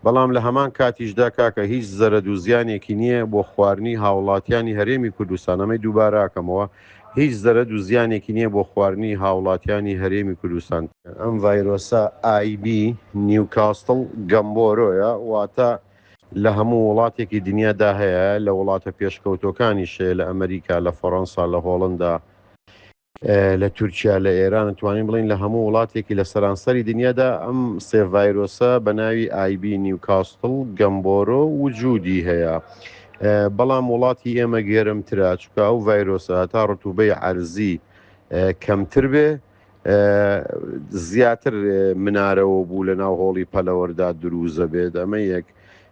بەڵام لە هەمان کاتیشدا کاکە هیچ زەرەد و زیانێکی نییە بۆ خوارنی هاوڵاتیانی هەرێمی کوردستان ئەمەی دووبارە ئەکەمەوە هیچ زەرەد و زیانێکی نییە بۆ خوارنی هاوڵاتیانی هەرێمی کوردستان. ئەم ڤایرۆسە IB نیوکاستڵ گەمبۆرۆیە واتە لە هەموو وڵاتێکی دنیا دا هەیە لە وڵاتە پێشکەوتوەکانیش هەیە لە ئەمریکا لە فەڕەنسا لە هۆڵندا لە تورکیا لە ئێران توانین بڵین لە هەموو وڵاتێکی لە سەرانسەری دنیادا ئەم سێڤایرۆسە بە ناوی ئایبی نیوکاستڵ گەمبۆرۆ وجودی هەیە بەڵام وڵاتی ئێمە گەرمترا چکە ئەو ڤایرۆسە تا ڕتوبەی عەرزی کەمتر بێ زیاتر منارەوە بوو لە ناو هۆڵی پەلەوەردا دروزە بێت ئەمە یەک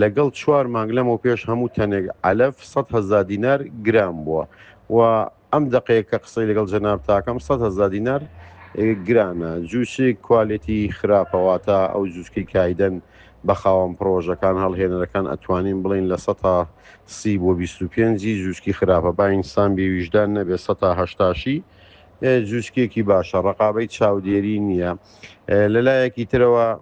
لەگەڵ چوار مانگ لەمەوپێش هەموو تەنێک عەلەف سەد هەزار دینار گران بووە و ئەم دەقەیە کە قسەی لەگەڵ جەناب تاکەم سەد هەزار دینار گرانە جووشی کوالێتی خراپەواتە ئەو جووشکی کایدەن بە خاوەن پرۆژەکان هەڵهێنەرەکان ئەتوانین بڵین لە سە تا سی بۆ 25 جووشکی خراپە با ئینسان بێویژدان نەبێ سە تا هەشتاشی جووشکێکی باشە ڕقابەی چاودێری نییە لەلایەکی ترەوە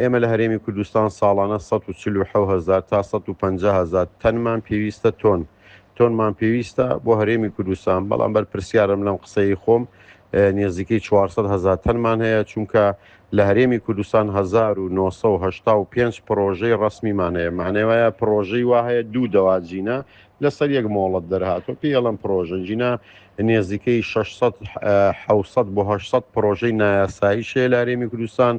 ئێمە لە هەرێمی کوردستان ساڵانە 1940هزار تا 1500هزار تەنمان پێویستە تۆن تۆنمان پێویستە بۆ هەرێمی کوردستان بەڵام بەر پرسیارم لەم قسەی خۆم نێزیکەی 400هزار تەنمان هەیە چونکە لە هەرێمی کوردستان 1995 پرۆژەی ڕسمیمان هەیە مانێوەیە پرۆژەی وا هەیە دوو دەواجینە لەسەر یەک مۆڵەت دەرهاتوە پێ ئەڵم پرۆژە جینا نێزیکەی 600 600 بۆ 600 پرۆژەی نایاسایی شێ لارێمی کوردستان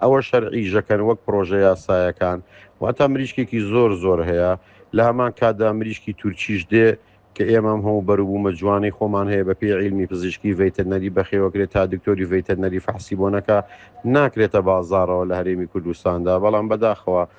ئەوە شەرعی ژەکەن وەک پرۆژە یاسایەکان واتە مریشکێکی زۆر زۆر هەیە لە هەمان کادا مریشکی تورکیش دێ کە ئێمەم هەموو بەروبوومە جوانی خۆمان هەیە بە پێ عیلمی پزیشکی ڤیتەنەری بەخێوەکرێت تا دکتۆری ڤیتەنەری فەحسی بۆنەکە ناکرێتە بازارەوە لە هەرێمی کوردستاندا بەڵام بەداخەوە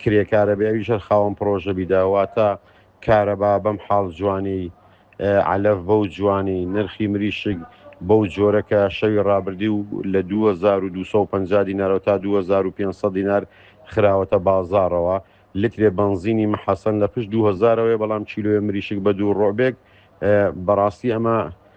کرێکارە بێ ئەویش هەر خاوەن پڕۆژە بی دا واتا کارەبا بەم حاڵ جوانی عەلەف بەو جوانی نرخی مریشک بەو جۆرە کە شەوی ڕابردی و لە 2250 دینارەوە تا 2500 دینار خراوەتە بازاڕەوە لترێ بەنزینی مەحەسەن لە پشت 2000 ەوەیە بەڵام کیلۆێ مریشک بە دوو ڕۆبێک بەڕاستی ئەمە